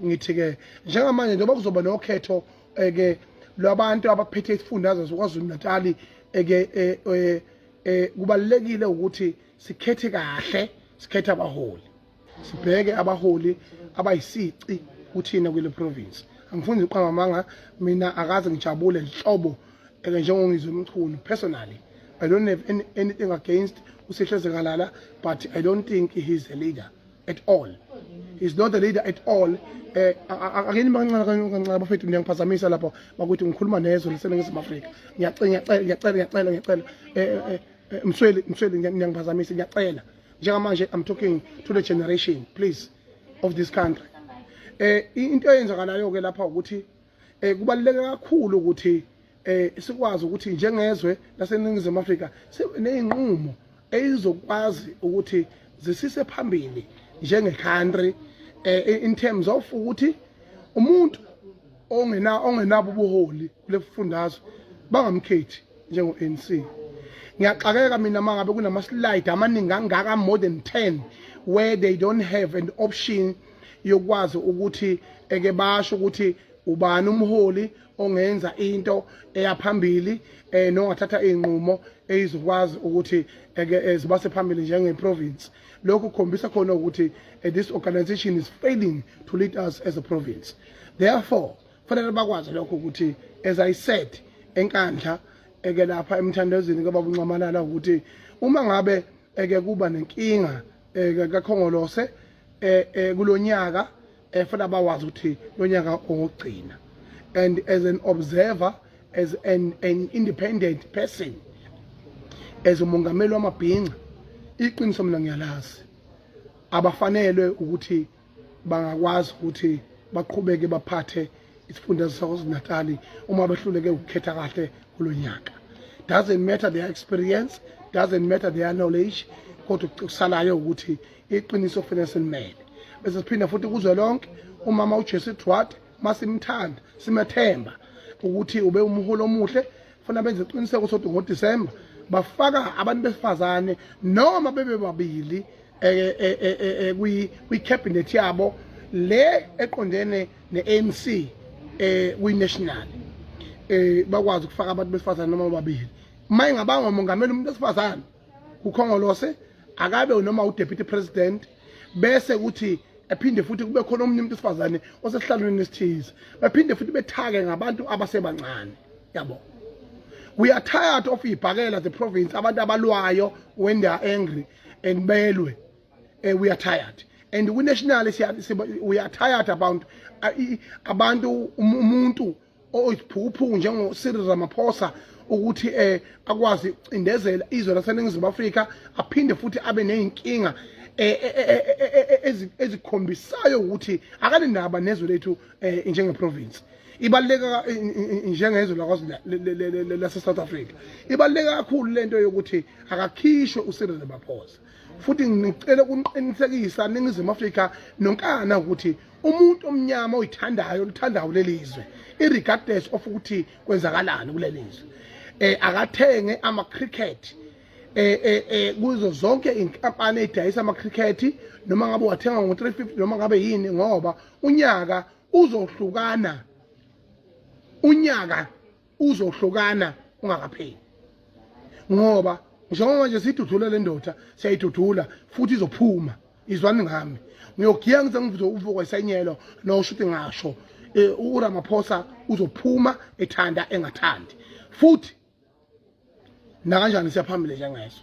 ngithi-ke njengamanje njengoba kuzoba nokhetho eke lwabantu abaphethe isifundazwe sokwazulu natali eke kubalulekile ukuthi sikhethe kahle sikhethe abaholi sibheke abaholi abayisici kuthina kule province angifuni ngiqamba amanga mina akaze ngijabule nhlobo eke njengongizwe umchunu personally i don't have any, anything against usihle zekalala but i don't think he is a leader at all he's not a leader at all eh akeni bancane kancane bafethu niyangiphazamisa lapho bakuthi ngikhuluma nezwe liseningizimu Afrika ngiyacela ngiyacela ngiyacela ngiyacela eh, eh, eh msweli msweli niyangiphazamisa ngiyacela njengamanje i'm talking to the generation please of this country eh into eyenzakalayo ke lapha ukuthi eh kubaluleke kakhulu ukuthi eh sikwazi ukuthi njengezwe laseningizimu Afrika sineyinqumo eyizokwazi ukuthi zisise phambili njenge country eh in terms of ukuthi umuntu ongena ongenabo ubuholi kulefundazwe bangamkhethi njengo ANC ngiyaxakeka mina mangabe kunama slide amaningi angaka more than 10 where they don't have an option yokwazi ukuthi eke basho ukuthi ubani umholi ongenza into eyaphambili eh nongathatha izinqumo eyizokwazi ukuthi eke eh, eh, zibase phambili njenge province lokhu kukhombisa khona ukuthi eh, this organization is failing to lead us as a province therefore fanele bakwazi lokho ukuthi as i said enkandla eke lapha emthandazweni kababa uncamalala ukuthi uma ngabe eke kuba nenkinga eke kakhongolose eh kulonyaka efuna bawazi ukuthi nonyaka ongugcina and as an observer as an, an independent person as umongameli wamabhinca iqiniso mina ngiyalazi abafanelwe ukuthi bangakwazi ukuthi baqhubeke baphathe isifunda saKwaZulu-Natal uma behluleke ukukhetha kahle kulo nyaka doesn't matter their experience doesn't matter their knowledge kodwa kusalayo ukuthi iqiniso kufanele silimele bese siphinda futhi kuzwe lonke umama uJesu Edward masimthanda simethemba ukuthi ube umholo omuhle funa benze iqiniseko sokuthi ngoDisemba bafaka abantu besifazane noma bebe babili eh, eh, eh, kwi kwi cabinet yabo le eqondene neANC eh kwi national eh bakwazi ukufaka abantu besifazane noma babili mayingabanga umongameli umuntu esifazane ukhongolose akabe noma udeputy president bese kuthi ephinde futhi kube khona omunye umuntu wesifazane osesihlalweni esithize baphinde futhi bethake ngabantu abasebancane yabo we are tired of ibhakela the province abantu abalwayo when they are angry and belwe uh, we are tired and kwi-national we are tired about uh, abantu um, umuntu oyisiphukuphuku njengo-cyril ramaphosa ukuthi um akwazi ukucindezela izwe laseningizimu afrika aphinde futhi abe ney'nkinga eh, eh, eh, ezikhombisayo ukuthi akanendaba nezwe lethu um njengeprovinsi ibaluleke njengezwe lakwazi lase-south africa ibaluleke kakhulu le nto yokuthi akakhishwe ucyril ramaphosa futhi ngicela ukuniqinisekisa ningizimu afrika nonkana ukuthi umuntu omnyama oyithandayo olithandayo lelizwe irregardless of ukuthi kwenzakalani kulelizwe eh akathenge ama cricket eh eh, eh kuzo zonke inkampani edayisa ama cricket noma ngabe wathenga ngo 350 noma ngabe yini ngoba unyaka uzohlukana unyaka uzohlukana ungakapheli ngoba njengoba nje sidudula le ndoda siyayidudula futhi izophuma izwani ngami ngiyogiya ngize ngivuze uvuko isenyelo nosho ukuthi ngasho eh, uramaphosa uzophuma ethanda engathandi futhi nakanjani siyaphambili njengeso